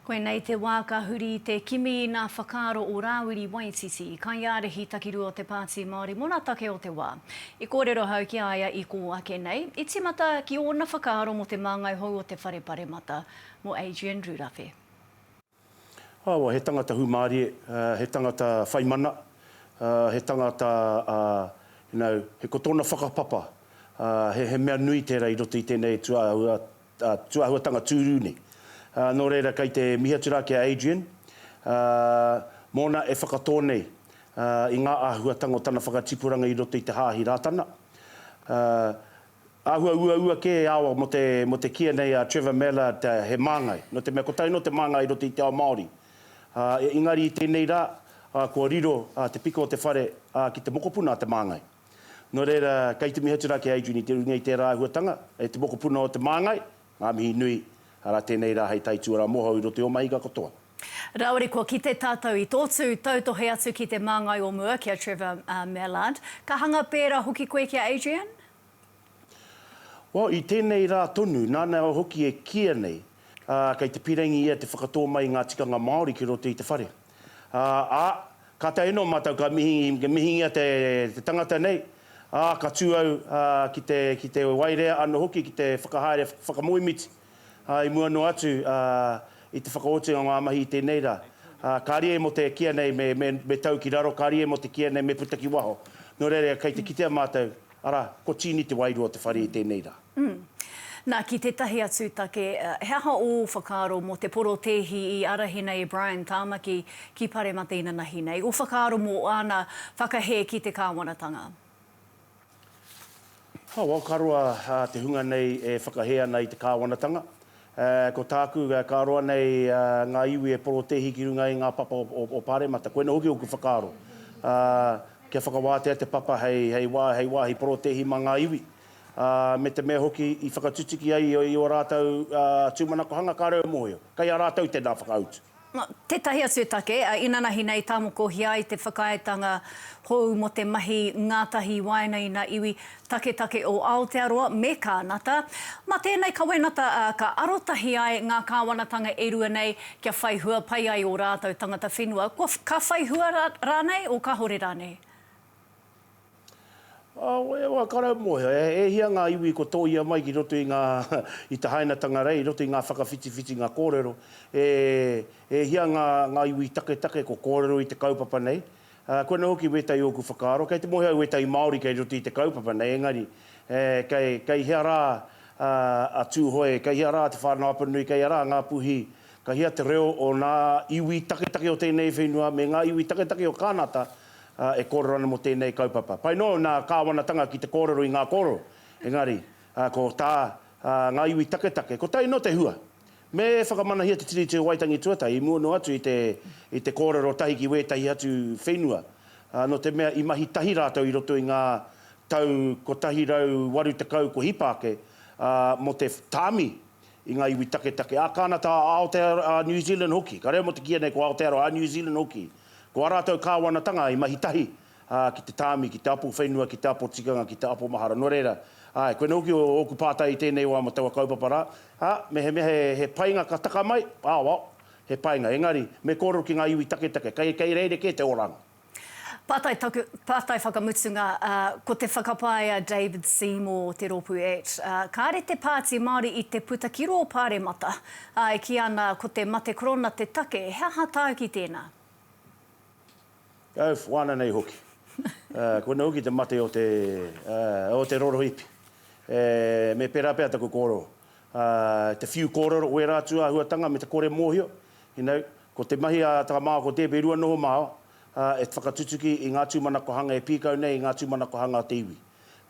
Koinei te wā ka huri i te kimi i nā whakaaro o Rāwiri Waititi, kaiārahi takirua o te Pāti Māori mō nā take o te wā. I kōrero ahau ki a ia i kō ake nei, i tīmata ki ōna whakaaro mō te māngai hou o te whare paremata, mō Adrian Rurafe. Awa, he tangata hūmārie, he tangata whai mana, he tangata you know, he ko tōna whakapapa, he mea nui tērā i roto i tēnei tū āhua, tūāhuatanga tūrū nei. Nō reira kei te mihi atu rā ki a Adrian mōna e whakatō nei i ngā āhuatanga o tana whakatipuranga i roto i te Hāhi Rātana. Āhua uaua kē e āwā mō te kīia nei a Trevor Mallard he māngai, nō te mea kotahi anō te māngai i roto i te ao Māori. Engari i tēnei rā kua riro te piko o te whare ki te mokopuna a te māngai. Nō reira, kei te mihi atu rā ki a Adrian i te urungia i tērā āhuatanga, e te mokopuna o Te Māngai, ngā mihi nui, arā tēnei rā hei taituarā moho i roto i ō mahinga katoa. Rāore kua kite tātou i tō tū, tautohe atu ki te māngai o mua ki a Trevor Mallard. Ka hanga pērā hoki koe ki a Adrian? Well, i tēnei rā tonu, nāna hoki e kīia nei, ā, kei te pīrangī ia te whakatō mai i ngā tikanga Māori ki roto i te whare. Ā, ā, ka tae noa mātou ka mihi, ka mihingia te, te tangata nei, ā, ka tū au, ā, ki te, ki te waerea anō hoki ki te whakahaere whak, whakamoemiti, ā, i mua noa atu, ā, i te whakaotinga o ngā mahi i tēnei rā. Ā, kāre e mō te kīia nei me, me, me tau ki raro, kāre e mō te kīia nei me puta ki waho. Nō reira, kei te kitea mātou. Arā, ko Tīni te wairua o te whare i tēnei rā. Umm. Nā, ki tētahi atu take, he aha ō whakaaro mō te porotēhi i ārahi nei e Brian Tāmaki ki Paremata inanahi nei? Ō whakaaro mō āna whakahē ki te kāwanatanga? Hau, aokaroa te hunga nei e whakahē ana i te kāwanatanga. Ā, ko tāku, ka roa nei ngā iwi e porotēhi ki runga i ngā papa o Pāremata. Koinā hoki ōku whakaaro, ā, kia whakawātea te papa hei, hei wā, hei wāhi porotēhi mā ngā iwi, ā, me te mea hoki i whakatutuki ai i ō rātou tūmanakohanga kāore au e mōhio, kei a rātou tēnā whakautu. Mā tētahi atu e take, a, inanahi nei tāmokohia ai te whakaaetanga hou mō te mahi ngātahi i waenga i ngā iwi taketake o Aotearoa me Kānata. Mā tēnei kawenata, a, ka arotahi ai ngā kāwanatanga e rua nei kia whai hua pai ai ō rātou tangata whenua, kua, ka whai hua rānei o kāore rānei. Wai o a Karau Moeho, e hia ngā iwi kua tōia mai ki roto i ngā, i te hainatanga rei, i roto i ngā whakawhitiwhitinga kōrero, e hia ngā iwi taketake kua kōrero i te kaupapa nei? Koinei hoki wētahi o ōku whakaaro, kei te moe au wētahi Māori kei roto i te kaupapa nei, engari, kei hea rā a Tūhoe, kei hea rā te Whānau Apanui, kei hea rā a Ngāpuhi, ka hea te reo o nā iwi taketake o tēnei whenua me ngā iwi taketake o Kānata, ā, e kōrero ana mō tēnei kaupapa. Pai noa nā Kāwanatanga ki te kōrero i ngā kōrero, engari, ā, ko tā, ā, ngā iwi taketake, kotahi nō te hua. Me whakamanahia te Tiriti o Waitangi Tuatahi i mua noa atu i te, i te kōrero tahi ki wētahi atu whenua, ā, nō te mea i mahi tahi rātou i roto i ngā tau 180 kua hipa ake, ā, mō te tāmi i ngā iwi taketake a Kānata, a Aotearoa, a New Zealand hoki. Ka reo mō te kī anei ko Aotearoa, a New Zealand hoki. Ko ā rātou kāwanatanga i mahi tahi, ā, ki te tāmi, ki te apo whenua, ki te apo tikanga, ki te apo mahara. Nō reira, āe, koinei hoki ōku pātai i tēnei wā mō taua kaupapa rā, ā, mehemea he, he painga ka taka mai, aoao, he painga, engari, me kōrero ki ngā iwi taketake, kei, kei rerekē te oranga. Pātai taku, pātai whakamutunga, ā, ko te whakapae a David Seymour o te rōpū act, ā, kāre te Pāti Māori i te puta ki rō Pāremata, Ā, e kī ana, Ko te mate korona te take, he aha tāuki tēnā? Au whana nei hoki. Ā, koinā hoki te mate o te, ā, o te rorohipi. E, me pērā pea taku kōrero. Ā, te whiu kōrero, wērā atu āhuatanga me te kore mōhio, you know, ko te mahi a Tara Mā Ako Tēpe i rua noho māua, ā, e whakatutuki i ngā tūmanakohanga e pīkau nei i ngā tūmanakohanga o te iwi.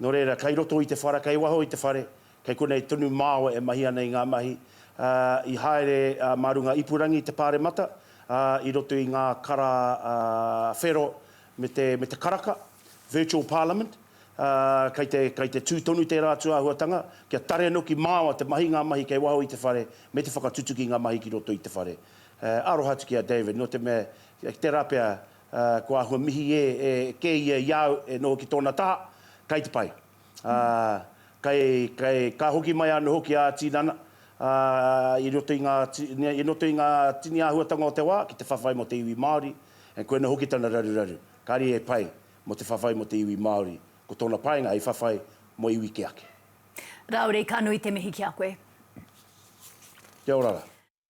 Nō reira, kei roto i te whara, kei waho i te whare, Kei konei tonu māua e mahi ana i ngā mahi, ā, i haere mā runga ipurangi i te Pāremata, ā, i roto i ngā kara whero me te, me te karaka, virtual parliament, ā, kei te, kei te tū tonu tērā atu āhuatanga, kia tare noki māua te mahi, ngā mahi kei waho i te whare, me te whakatutuki i ngā mahi ki roto i te whare. E, aroha atu ki a David, nō te mea, ki tērā pea, ā, kua āhua mihi e, e kē ia i a au e noho ki tōna taha, kei te pai. ā, kei, kei, ka hoki mai anō hoki ā tinana, ā, i roto i ngā, i roto i ngā tini āhuatanga o te wā ki te whawhai mō te iwi Māori, and koinā hoki tana raruraru, kāre e pai mō te whawhai mō te iwi Māori, ko tōna painga hei whawhai mō iwi kē ake. Rāore, ka nui te mihi ki a koe. Kia ora rā.